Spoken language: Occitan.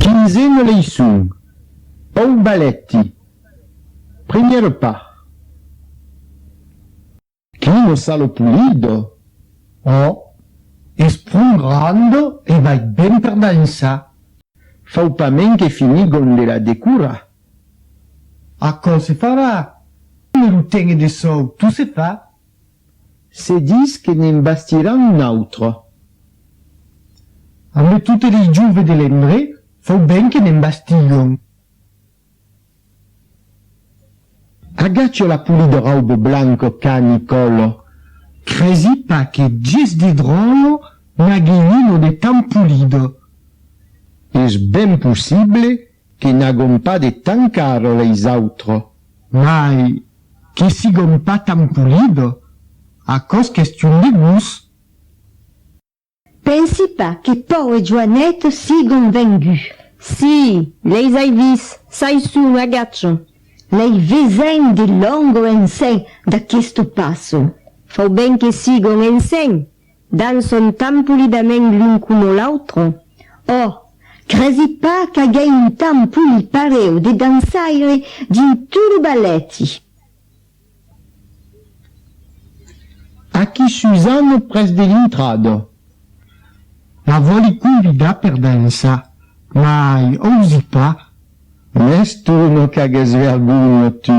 Quinzena leiçon, Au balèti, première part. Qui no sa lo pulido? Oh, es pron granda e vai ben per dansar. Fau pas men que finir g'on de la decurar. Aquò se farà, me lo tene de sòu, tu se fa. Se dis que ne'n bastiràn un autre. Ambe totes les jove de l'endre, fau ben que ne'n bastilhon. Agacho la polida rauba blanca qu'ani còlo. Cresi pas que ges de dròllo n'agi un o de tan polida. Es ben possible Que n'agom pas de tan car leis autres. Mai que sigom pas tan polid, aquò's question de gust. Pensi pas que Pau e Joanet sigom venguts. Si, leis ai vist, çai son, agacho. Lei vesèm de long o ensenh d'aquesto passo. Fau ben que sigom ensenh, Dan son temps polidament l'un coma l'autre. Ò! cresi pas qu'agèi un temps poli pareu de dançaire dins tot lo balèti. Aquí Suzanne pres de l'intrada. La vòli convidar per dançar, mai ausi pas. Mès tu non qu'ages vergonha, tu!